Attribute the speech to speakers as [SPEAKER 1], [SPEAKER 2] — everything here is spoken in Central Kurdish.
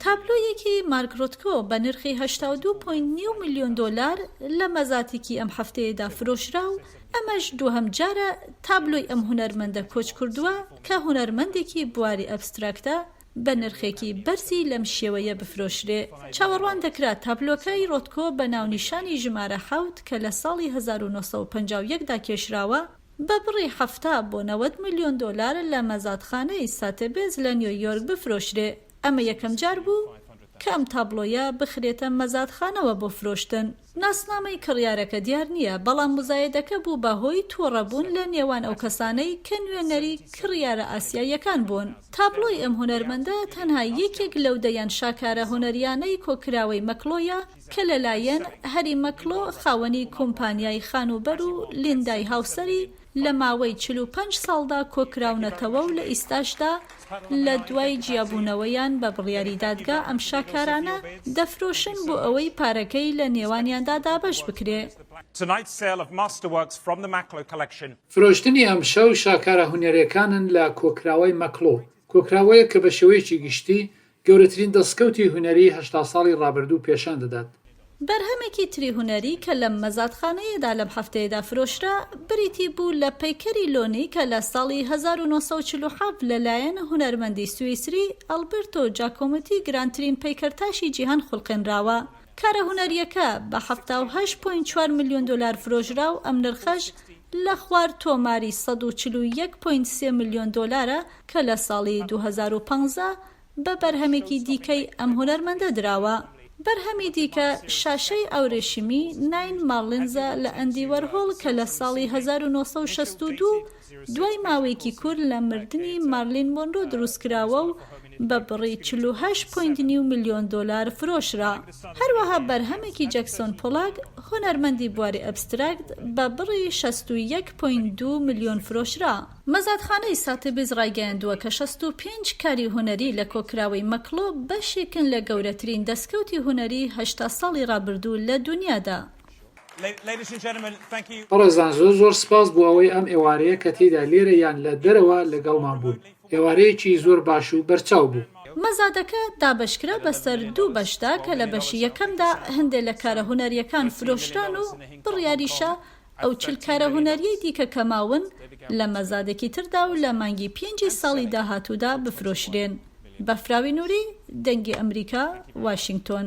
[SPEAKER 1] تابلۆیەکی مارک ڕۆتکۆ بە نرخی هەشتا و دوو پۆینت نیو ملیۆن دۆلار لە مەزاتیکی ئەم هەفتەیەدا فرۆشرا و ئەمەش دووهەم جارە تابلۆی ئەم هونەرمەندە کۆچ کردووە کە هونەرمەندێکی بواری ئەبستراکتە بە نرخێکی بەرزی لەم شێوەیە بفرۆشرێ. چاوەڕوان دەکرا تابلۆکەی ڕۆتکۆ بە ناونیشانی ژمارە حەوت کە لە ساڵی هەزار و نۆ سەد و پەنجا و یەک دا کێشراوە، بە بڕی حەفتا بۆ نەوەد ملیۆن دۆلار لە مەزاتخانەی ساتێبێز لە نیۆیۆرک بفرۆشرێ. ئەمە یەکەم جار بوو کە ئەم تابڵۆیە بخرێتە مەزادخانەوە بۆ فرۆشتن. ناسنامەی کڕیارەکە دیار نییە، بەڵام موزایەدەکە بوو بە هۆی تووڕەبوون لە نێوان ئەو کەسانەی کە نوێنەری کڕیارە ئاسیاییەکان بوون. تابڵۆی ئەم هونەرمەندە تەنها یەکێک لەو دەیان شاکارە هونەرییانەی کۆکراوەی مەکڵۆیە کە لەلایەن هەری مەکڵۆ خاوەنی کومپانیای خانووبەر و لیندای هاوسەری لە ماوەی چل و پەنج ساڵدا کۆکراونەتەوە و لە ئیستاشدا لە دوای جیابوونەوەیان بە بڕیاری دادگا ئەم شاکارانە دەفرۆشن بۆ ئەوەی پارەکەی لە نێوانیاندا دابەش بکرێ.
[SPEAKER 2] فرۆشتنی ئەمشەو شاکارە هونەرێکانن لە کۆکراوەی مەکڵۆ، کۆکراوەیەک کە بە شێوەیەکی گشتی گەورەترین دەستکەوتی هونەریی هەشتا ساڵی ڕابردوو پێشان دەدات. بەرهەمێکی
[SPEAKER 1] تری هونەری کە لەم مەزادخانەیەدا لەم هەفتەیەدا فرۆشرا، بریتی بوو لە پەیکەری لۆنی کە لە ساڵی هەزار و نۆ سەد و چل و حەڤد لە لایەن هونەرمەندی سویسری ئەلبرتۆ جاکۆمتی گرانترین پەیکەرتاشی جیهان خولقێنراوە. کارە هونەرییەکە بە حەفتا و هەشت پۆینت چوار ملیۆن دۆلار فرۆشرا و ئەم نرخەش لە خوار تۆماری سەد و چل و یەک پۆینت سێ ملیۆن دۆلارە کە لە ساڵی دوو هەزار و پازدە بە بەرهەمێکی دیکەی ئەم هونەرمەندە دراوە. بەرهەمی دیکە شاشەی ئاورێشیمی ناین مارلینزە لە ئەندی وەرهۆڵ کە لە ساڵی هەزار و نۆ سەد و شەست و دوو دوای ماوەیەکی کور لە مردنی مارلین مۆنرۆ دروستکراوە و بە بڕی چل و هەشت پوینت نیو ملیۆن دۆلار فرۆشرا. هەروەها بەرهەمێکی جەکسۆن پۆلاک هونەرمەندی بواری ئەبستراکت بە بڕی شەست و یەک پوینت دوو ملیۆن فرۆشرا. مەزادخانەی ساتبیز ڕایگەیاندووە کە شەست و پێنج کاری هونەری لە کۆکراوەی مەکڵۆ بەشێکن لە گەورەترین دەستکەوتی هونەری هەشتا ساڵی ڕابردوو لە دونیادا.
[SPEAKER 2] بەڕێزان زۆر زۆر سپاس بۆ ئەوەی ئەم ئێوارەیە کە تێیدا لێرە یان لە دەرەوە لەگەڵمان بوون. ئێوارەیەکی زۆر باش و بەرچاو بوو. مەزادەکە
[SPEAKER 1] دابەشکرا بەسەر دوو بەشدا کە لە بەشی یەکەمدا هەندێ لە کارە هونەریەکان فرۆشران و بڕیاریشە ئەو چل کارە هونەرییەی دیکە کە ماون لە مەزادێکی تردا و لە مانگی پێنجی ساڵی داهاتوودا بفرۆشرێن. بەفراوی نوری، دەنگی ئەمریکا، واشینگتۆن.